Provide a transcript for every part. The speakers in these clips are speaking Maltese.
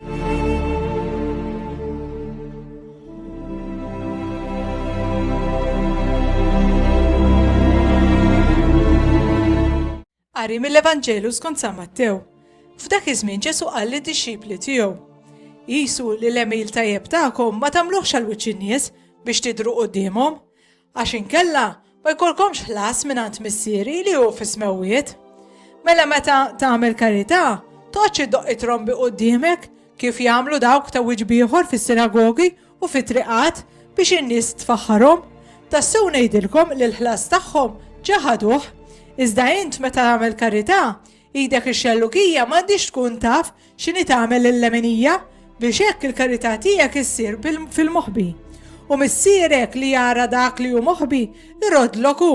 Qari mill-Evanġelu skont San Mattew. F'dak iż-żmien Ġesu qal lid-dixxipli tiegħu, Qisu li l-għemil tajjeb tagħkom ma tagħmluhx għal wiċċ in-nies biex tidhru quddiemhom. Għax inkella ma jkollkomx ħlas mingħand Missieri li hu fis-smewwiet. Mela meta tagħmel karità, toqgħodx iddoqq it-trombi quddiemek kif jagħmlu dawk ta' wiċċ b'ieħor fis-sinagogi u fit-triqat biex in-nies tfaħħarhom. Tassew ngħidilkom li l-ħlas tagħhom ġa ħaduh. Iżda int meta tagħmel karità, Hi dak ix-xellugija m'għandhiex tkun taf x'inhi tagħmel lill-leminija, biex hekk il-karità tiegħek issir fil-moħbi. U Missierek li jara dak li hu moħbi, iroddlok hu.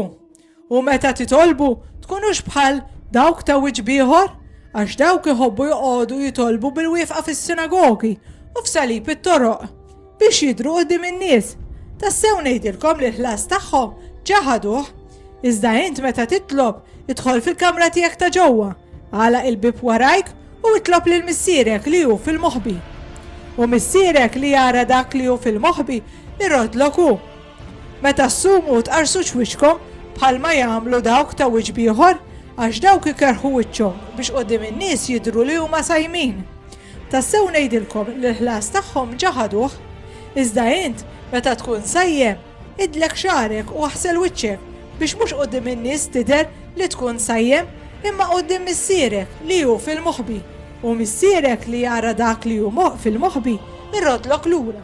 U meta titolbu, tkunux bħal dawk ta' wiċċ ieħor, għax dawk iħobbu joqogħdu jitolbu bil-wieqfa fis-sinagogi u f'salib it-toroq, biex jidhru quddiem in-nies. Tassew ngħidilkom li l-ħlas tagħhom ġa ħaduh. Iżda int meta titlob, idħol fil-kamra tiegħek ta' ġewwa, agħlaq il-bieb warajk u itlob lil Missierek li hu fil-moħbi. U Missierek li jara dak li hu fil-moħbi jroddlok hu. Meta ssumu u tqarrsux wiċċkom bħalma jagħmlu dawk ta' wiċċ b'ieħor, għax dawk ikerrħu wiċċhom biex quddiem in-nies jidhru li huma sajmin. Tassew ngħidilkom li l-ħlas tagħhom ġa ħaduh. Iżda int, meta tkun sajjem, idlek xagħrek u aħsel wiċċek, biex mhux quddiem in-nies tidher li tkun sajjem, imma quddiem Missierek li hu fil-moħbi, u Missierek li jara dak li hu fil-moħbi jroddlok lura.